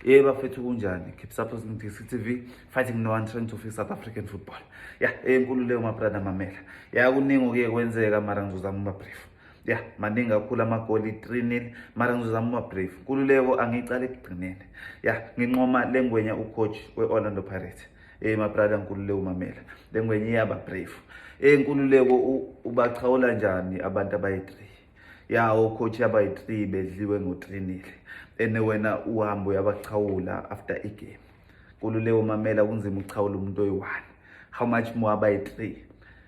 Yebo bafethu kunjani? Keep supporting DC TV, fighting no one trying to fix South African football. Yeah, enkulu leyo my brother mamela. Yeah, kuningi okuye kwenzeka mara ngizozama uma brief. ya yeah, maningi kakhulu amagoli 3 nil mara ngizozama uma brief nkululeko angiyiqala ekugcineni ya yeah, nginqoma le ngwenya ucoach we-orlando pirates eh my brother nkululeko umamela le ngwenya iyaba brief eh nkululeko ubachawula njani abantu abayi-3 ya ocoach abayi-three bedliwe ngotrinile ene wena uhambe uyabachawula after igame nkululeko mamela kunzima ukuchawula umuntu oyi-one how much more abayi-three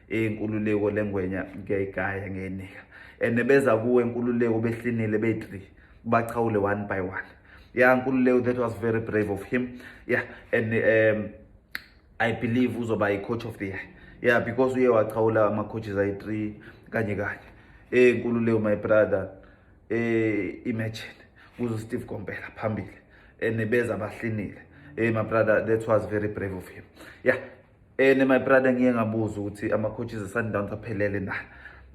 inkululeko lengwenya ngiyayigaya ngeyinika and beza kuwe nkululeko behlinile beyi-three bachawule one by one ya nkululeko that was very brave of him ya and um i believe uzoba i-coach of the year yeah because uye wachawula ama-coaches ayi-three kanye kanye eh nkululeko my brother eh imagine kuzo Steve Kompela phambili ene beza bahlinile eh my brother that was very brave of him yeah ene my brother ngiye ngabuza ukuthi ama coaches eSundowns aphelele na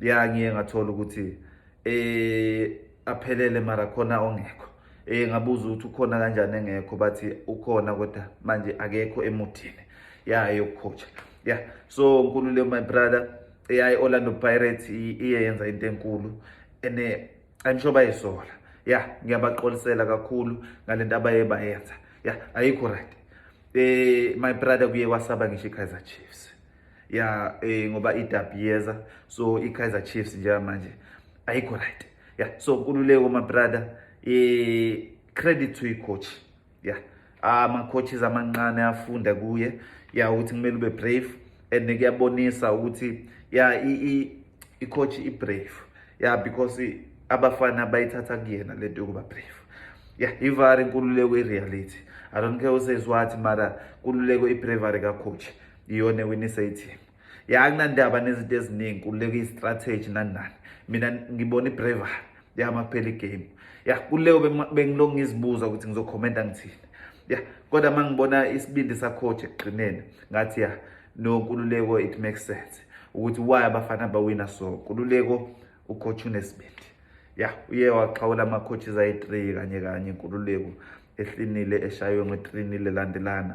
yeah ngiye ngathola ukuthi eh aphelele mara khona ongekho Eh ngabuza ukuthi ukhona kanjani engekho bathi ukhona kodwa manje akekho emuthini yayo yokucoacha. Yeah. So Nkululeko my brother eyayi Orlando Pirates iye yenza into enkulu ene I'm sure bayisola. Yeah, ngiyabaxolisela kakhulu ngalento abaye bayenza. Yeah, ayikho right. Eh my brother kuye kwasaba ngisho iKaizer Chiefs. ya eh, ngoba idabi yeza so ikaizer chiefs njengamanje ayikho right ya so nkululeko mabrother eh, credit to icoach ya ama-coaches amancane afunda kuye ya ukuthi kumele ube brave and kuyabonisa ukuthi ya i-coach i-brave ya because abafana bayithatha kuyena le nto yokuba brave ya ivari nkululeko i-reality i don't care usays what mara nkululeko i-bravery kacoach iyona ewinisa ithimu ya akunandaba nezinto eziningi kuleka i-strategy nani nani mina ngibona i-braver ya makuphela igame ya kuleyo bengilokhu ngizibuza ukuthi ngizokhomenta ngithini ya kodwa uma ngibona isibindi sacoach ekugqineni ngathi ya no kululeko it makes sense ukuthi why abafana bawina so kululeko ucoach unesibindi ya uye waxhawula ama-coaches ayi-three kanye kanye inkululeko ehlinile eshaywe nge-three-nil elandelana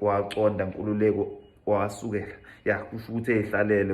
wawaconda nkululeko wawasukela ya kusho ukuthi eyihlalele